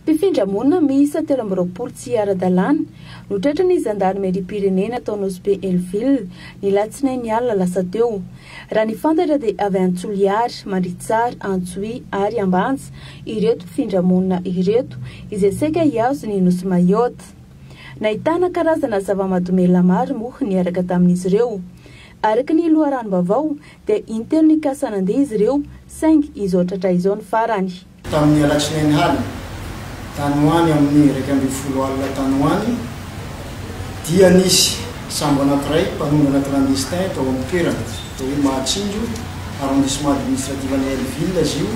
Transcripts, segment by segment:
Mpifindra monina miisa telo amby roapolo tsy ara-dalàna no tratran'ny zandarimeriam-pirenena tao Nosy Be Hellville, ny alatsinainy alina lasa teo. Raha ny fantatra dia avy any Toliary, Mandritsara, Antsohihy ary Ambanja ireto mpifindra monina ireto izay saika hihazo ny nosy Mayotte. Nahitana karazana zava-mahadomelina maro moa niaraka tamin'izy ireo. Araka ny loharanom-baovao dia intelo nikasa nandeha izy ireo saingy izao tratra izao ny farany. Tamin'ny alatsinainy haly tany ho any amin'ny iraika ambin'ny folo alina tany ho any dia nisy sambo anankiray mpanondrana clandestin tao amin'ny toerana atao hoe Mahatsinjo, arrondissement administratif an'i Hellville izy io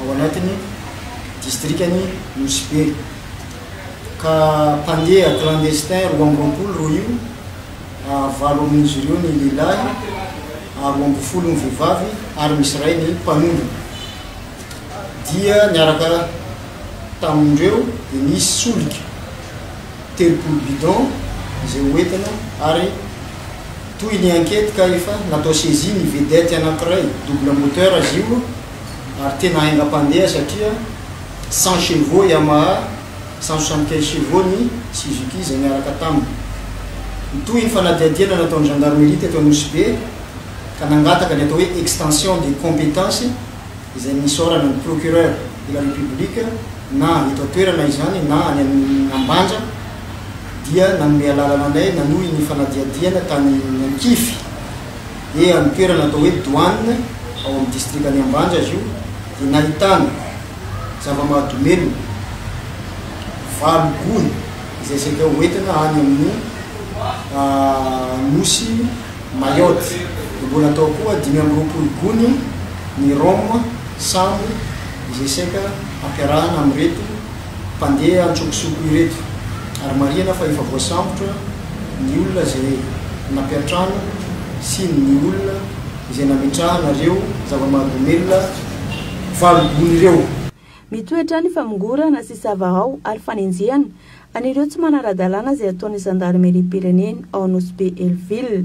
ao anatin'ny distrikan'i Nosy Be, ka mpandeha clandestin roa amby roapolo roa io, valo amin'izy ireo ny lehilahy, roa ambin'ny folo ny vehivavy ary misy iray ny mpanondrana. dia niaraka tamin'ireo dia nisy solika telopolo bidon izay ho entina ary toy ny ankety ka efa natao saisie ny vedette anankiray double moteur izy io ary tena haingam-pandeha satria cent chevaux Yamaha cent soixante quinze chevaux ny Suzuki izay niaraka taminy. Nitohy ny fanadihadiana nataon'ny gendarmerie teto Anosibe ka nangataka ny atao hoe extension des compétences izay nisaorana ny Procureur de la République na eto an-toerana izany na any amin'ny Ambanja dia nanome alalana anay nanohy ny fanadihadihana tany Ankify dia amin'ny toerana atao hoe Douane ao amin'ny Distrikan'i Ambanja izy io dia nahitana zava-mahadomelina valo gony izay sendra ho entina any amin'ny Nosy Mayotte, no mbola tao koa dimy amby roapolo gony ny rhum, sambo, izay saika ampiarahana amin'ireto mpandeha antsokosoko ireto, ary marihana fa efa voasambotra ny olona izay nampiantrano sy ny olona izay nametrahana ireo zava-mahadomelina valo gony ireo. Mitoetra ny famongorana sy sava ao ary fanenjehana An'ireo tsy manara-dalàna izay ataon'ny zandarimeriam-pirenena ao Nosy Be Hellville,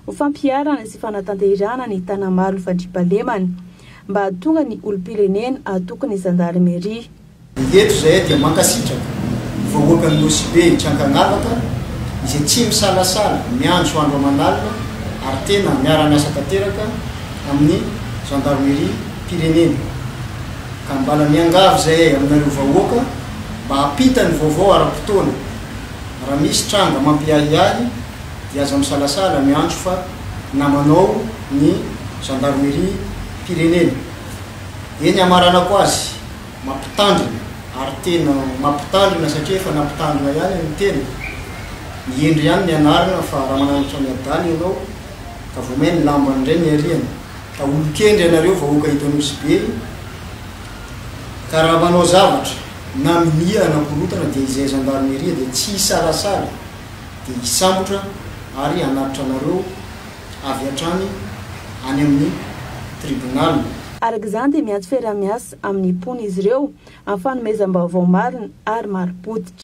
ho fampiharana sy fanatanterahana ny Tanamalo Fadribalemana, mba hahatonga ny olom-pirenena hahatoky ny zandarimeria. Eto izahay dia mankasitraka ny vahoakan'i Nosy Be tsy ankanavaka izay tsy misalasala miantso andro aman'alina ary tena miara-miasa tanteraka amin'ny zandarimeriam-pirenena. Ka mbala miangavy izahay aminareo vahoaka mba hampita ny vaovao ara-potoana. Raha misy tranga mampiahiahy dia aza misalasala miantso fa namanao ny Zandarimeriam-pirenena. Dia ny hamaranako azy, mampitandrina ary tena mampitandrina satria efa nampitandrina ihany ny tena. Mihendry ihany ny anarana fa Ramanandratra Miadana ianao ka vao may ny lambany indray niariana. Fa olon-kendry ianareo vahoaka eto Anosy Be ka raha manao zavatra na minia hanakorontana dia izay Gendarmerie dia tsy hisalasala dia hisambotra ary hanatitra anareo avy hatrany any amin'ny Tribunal. Araka izany dia miantso fiaraha-miasa amin'ny mponina izy ireo amin'ny fanomezam-baovao marina ary marim-pototra.